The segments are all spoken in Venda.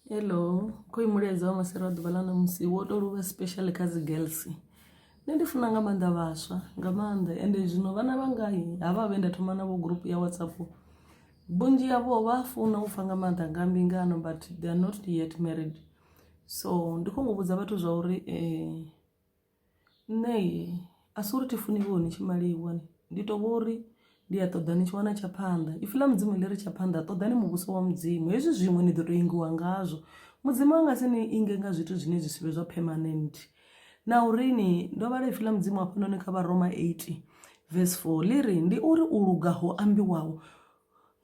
hello khoyu mulaedza wa masera wa ḓuvha ḽa ṋamusi wo to luvha special kha dzi girls nṋe ndi funa nga maanḓa vhaswa nga maanḓa ende zwino vhana vha ngai ha vha vhe nda thoma navho group ya whatsapp vhunzhi yavho vha funa u pfa nga maanḓa nga mbingano but they are not yet married so ndi kho ngo vhudza vhathu zwa uri um nṋe a si uri thi funi vho ni tshi maliwa ni ndi to vhori ndi a ṱoḓa ni tshi wana tsha phanḓa ipfhi ḽa mudzimu ḽi ri tsha phanḓa ṱoḓa ni muvhuso wa mudzimu hezwi zwiṅwe ni ḓo to ingiwa ngazwo mudzimu a nga si ni inge nga zwithu zwine zwi sivhe zwa permanent na uri ni ndo vhala ipfhi ḽa mudzimu hafhanoni kha vharoma 8 vese 4 ḽi ri ndi uri u luga ho ambiwaho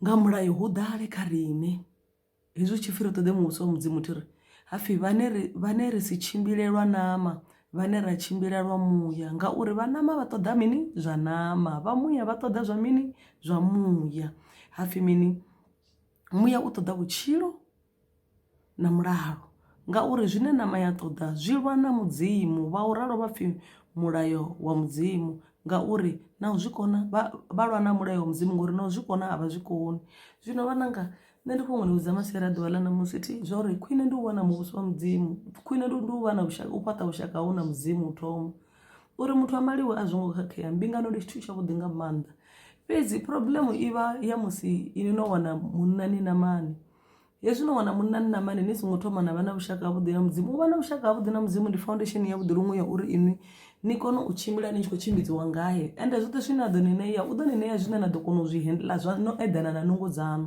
nga mulayo hu ḓale kha riṋe hezwi tshi fhira ṱoḓe muvhuso wa mudzimu thi ri hapfhi vhane ri vhane ri si tshimbilelwa nama vhane ra tshimbilelwa muya ngauri vha nama vha ṱoḓa mini zwa nama vha muya vha ṱoḓa zwa mini zwa muya hapfhi mini muya u ṱoḓa vhutshilo na mulalo ngauri zwine nama ya ṱoḓa zwi lwa na mudzimu vha u ralo vhapfhi mulayo wa mudzimu ngauri na u zwi kona vha lwa na mulayo wa mudzimu ngori na u zwi kona a vha zwi koni zwino vha nanga. nṋe ndi khou ṅwaludza maswera ḓuvha ḽa ṋamusi thi zwa uri khwine ndi u vha na muvhuso wa mudzimu khwine ndi u vha na vhushaka u fhaṱa vhushaka hau na mudzimu u thoma uri muthu a maliwe a zwo ngo khakhea mbingano ndi tshithu tshavhuḓi nga maanḓa fhedzi problemu i vha ya musi ini no wana munna ni na mani hezwi no wana munna ni na mani ni songo thoma na vha na vhushaka havhuḓi na mudzimu u vha na vhushaka havhuḓi na mudzimu ndi foundation yavhuḓi luṅwe ya uri inwi ni kone u tshimbila ni tshi khou tshimbidziwa ngae ende zwoṱhe zwine a ḓo ni ṋea u ḓo ni ṋea zwine na ḓo kona u zwi handla zwa no eḓana na nungo dzaṋu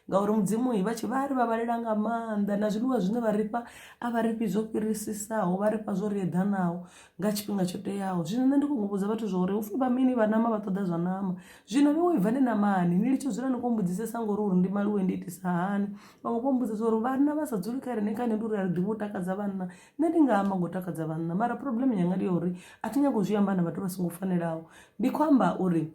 ngauri mudzimu vha tshi vha ri vha vhalela nga maanḓa na zwiḽiwa zwine vha rifha a vha rifhi zwo fhirisisaho vha rifha zwo ri eḓanaho nga tshifhinga tsho teaho zwino nṋe ndi khou humbudza vhathu zwa uri upfhi vha mini vha nama vha ṱoḓa zwa nama zwino ni wo ibva ni namani ni litsho dzula ni khou mbudzisesa ngori uri ndi maliwe ndi itisa hani vhaṅwe vho mbudzisa uri vhanna vha sa dzuli kha rine kha nṋe ndi uri a ri ḓivhi u takadza vhanna nṋe ndi nga amba ngo takadza vhanna mara problem yanga ndi ya uri a thi nyagi u zwi amba na vhathu vha songo fanelaho ndi khou amba uri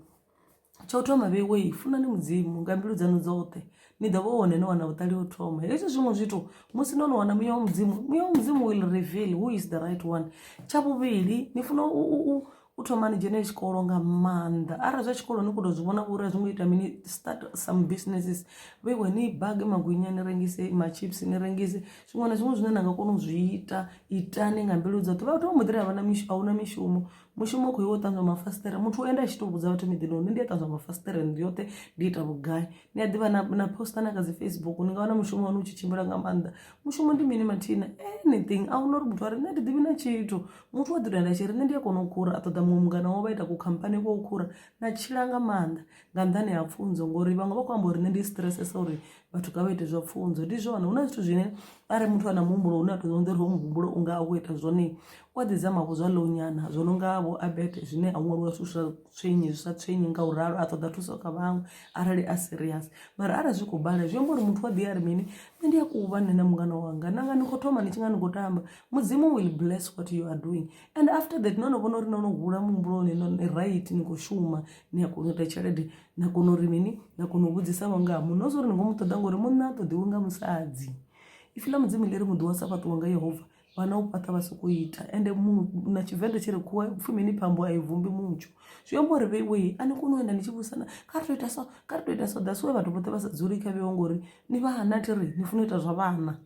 tsha u thoma vheiwei funani mudzimu nga mbilu dzanu dzoṱhe ni ḓo vha hone no wana vhuṱali u thoma hezwi zwiṅwe zwithu musi no no wana muya wa mudzimu muya wa mudzimu will reveal who is the right one tsha vhuvhili ni funa u u thoma ni dzhene tshikolo nga maanḓa arali zwa tshikolo ni kho to zwi vhona vhori a zwi ngo ita mini start some businesses vheiwe ni bage magwinya ni rengise machips ni rengise zwiṅwe na zwiṅwe zwine na nga kona u zwi ita itani nga mbilu dzoṱhe vhathu vha muḓira havha na mishumo ahuna mishumo mushumo u khou iwe u ṱanzwa mafasiṱere muthu ende a tshi to vhudza vhathu miḓini hone ndi a ṱanzwa mafasiṱere ndi yoṱhe ndi ita vhugai ni a ḓivha na poster na kha dzi facebook ni nga wana mushumo wanu u tshi tshimbila nga maanḓa mushumo ndi mini mathina anything a huna uri muthu a ri nṋe ndi ḓivhi na tshithu muthu wa ḓidoenda tshi ri nṋe ndi a kona u khura a ṱoḓa muṅwe mungana wo vha ita kukhamphani kwa u khura na tshila nga maanḓa nga nḓani ha pfunzo ngori vhaṅwe vha khou amba uri nṋe ndi stressesa uri vhathu ka vha ite zwa pfunzo ndi zwone hu na zwithu zwine arali muthu a na muhumbulo une a tou ḓonḓa uri ho muhumbulo u nga a khou ita zwone o ḓi zama vho zwa ḽounyana zwo no nga vho abete zwine a ṅwaliwa zwithu zwa tswenyi zwi sa tswenyi nga u ralo a ṱoḓa thuso kha vhaṅwe arali a serious mara arali zwi khou bala zwi amba uri muthu wa ḓi ari mini nṋe ndi a kuva nṋe na mungana wanga nanga ni khou thoma ni tshi nga ni khou tamba mudzimu will bless what you are doing and after that no no vhona uri no no hula muhumbuloni no ni right ni khou shuma ni a kona u ita tshelede na kona uri mini na kona u vhudzisa vho nga ha munna o zwa uri ni khou mu ṱoḓa ngori munna a ṱoḓiwi nga musadzi ifi ḽa mudzimu ḽi ri muḓi wa sa fhaṱiwa nga yehova vana u pata vha sokou ita ende na tshivenḓa tshi ri khuwa pfhi mini phambo a i vumbi mutsho zwi amba uri vheiwei a ni koni u enda ni tshi vhusana kha ri to ita so kha ri to ita so that's why vhathu vhoṱhe vha sa dzuli kha vheiwa ngori ni vha hana thi ri ni funa u ita zwa vhana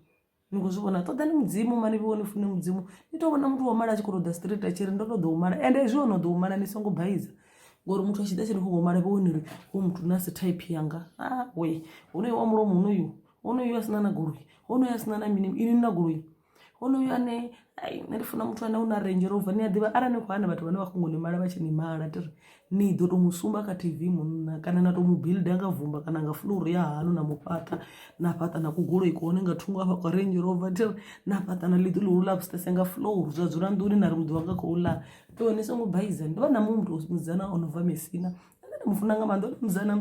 ni khou zwi vhona ṱoḓani mudzimu mani vheiwa ni fune mudzimu ni to vhona muthu wa mala a tshi khou to ḓa street a tshi ri ndo to ḓo u mala ende zwi ono ḓo u mala ni songo baiza ngori muthu a tshi ḓa tshi ni khou mala vheiwa ni ri wo muthu na si type yanga a we honoyo wa mulomo honoyu honoyu a sina na goloi honoyu a sina na mini ini na goloi honoyu ane ai nṋe ndi funa muthu ane u na range rover ni a ḓivha arali ni khou hana vhathu vhane vha khou ngo ni mala vha tshi ni mala tiri ni ḓo to mu sumba kha tv munna kana na to mu builda nga vumba kana nga fuluru ya hanu na mu fhaṱa na fhaṱa na kugoloi kuhone nga thungo afha kwa range rover tiri na fhaṱa na ḽiḓo ḽihulu ḽa vhusese nga fuluru zwa dzula nḓuni na ri muḓi wanga khou ḽa to ni songo baiza ndo vha na muthu musidzana o no bva mesina ane nda mu funa nga maanḓa o musidzana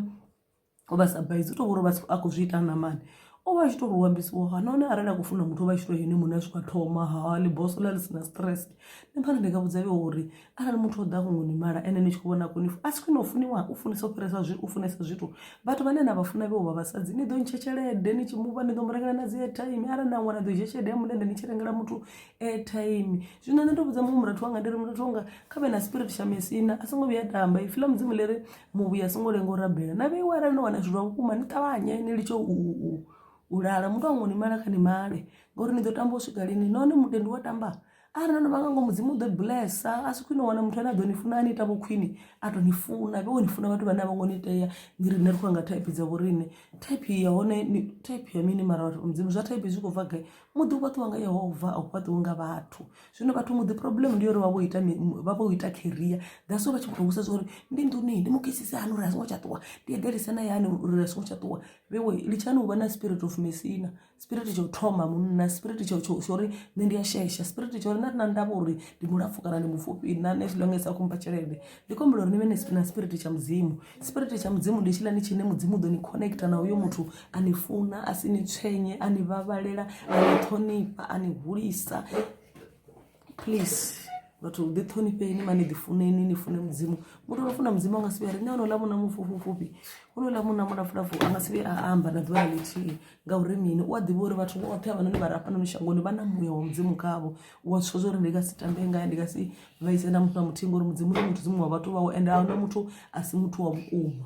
o vha sa baizi u to vhori a khou zwi ita na mani o vha a tshi to ri u ambisiwa ha nahone arali a khou funa muthu o vha a tshi to yone muṋe a swika thoma ha liboso ḽa ḽi si na stress nṋe phara ndi nga vhudza vhe uri arali muthu o ḓa khongo ni mala ene ni tshi khou vhona koni a si khwine u funiwa u funisa u fhirisa zwi u funesa zwithu vhathu vhane na vha funa vhe vha vhasadzi ni ḓo ntsha tshelede ni tshi muvha ni ḓo mu rengela na dzi airtime arali na ṅwana ḓo dzhia tshelede ya mulende ni tshi rengela muthu airtime zwino nṋe ndo vhudza muṅwe murathu wanga ndi ri murathu wanga kha vhe na spirit tsha mesina a songo vhuya tamba ipfhi ḽa mudzimu ḽi ri muvhuyi a songo lenga u rabela na vheiwe arali no wana zwithu zwa vhukuma ni ṱavhanye ni litshe u lala muthu wango ni mala kha ni male ngauri ni ḓo tamba u swika lini nahone mutendi wa tamba arali no no vha nga ngo mudzimu u ḓo bulesa a si khwine u wana muthu ane a ḓo ni funa a ni ita vho khwine a tou ni funa vhe wo ni funa vhathu vhane a vho ngo ni tea ni riṋe ri khou nga thaiphi dza vho riṋe thaiphi ya hone thaiphi ya mini mara vhathu mudzimu zwa thaiphi zwi khou bva gai muḓi u fhaṱiwa nga yehova a u fhaṱiwi nga vhathu zwino vhathu muḓi problem ndi uri vha vho ita vha vho ita career that's why vha tshi mutongisa zwa uri ndi nḓuni ndi mu kisise hani uri a songo tsha ṱuwa ndi eḓelise na yani uri a songo tsha ṱuwa vhewe litshani u vha na spirit of mesina spirit tsha u thoma munna spirit tsha tsho tsho uri nṋe ndi a shesha spirit tsha uri na na ndavha uri ndi mulapfu kana ndi mupfufhi na as long as a khomba tshelede ndi khombela uri ni vhe na spirit tsha mudzimu Spirit tsha mudzimu ndi tshilani tshine mudzimu ḓo ni connecta na uyo muthu a ni funa a si ni tswenye a ni vhavhalela a ni ṱhonifha a ni hulisa please vhathu ḓi ṱhonifheni mani ḓi funeni ni fune mudzimu muthu no funa mudzimu a nga si vhuya ri nṋe onola muna mufhufhufhufhi onola muna mulafulafhu a nga si vhuya a amba na ḓuvha ḽa ḽithihi ngauri mini u a ḓivha uri vhathu vhoṱhe havhanoni vha re hafhanoni shangoni vha na muya wa mudzimu khavho u a zwiswa zwori ndi nga si tambe ngae ndi nga si vhaise na muthu na muthihi ngori mudzimu ndi muthu dzimu wa vhathu vhawe ende ahuna muthu a si muthu wa vhukuma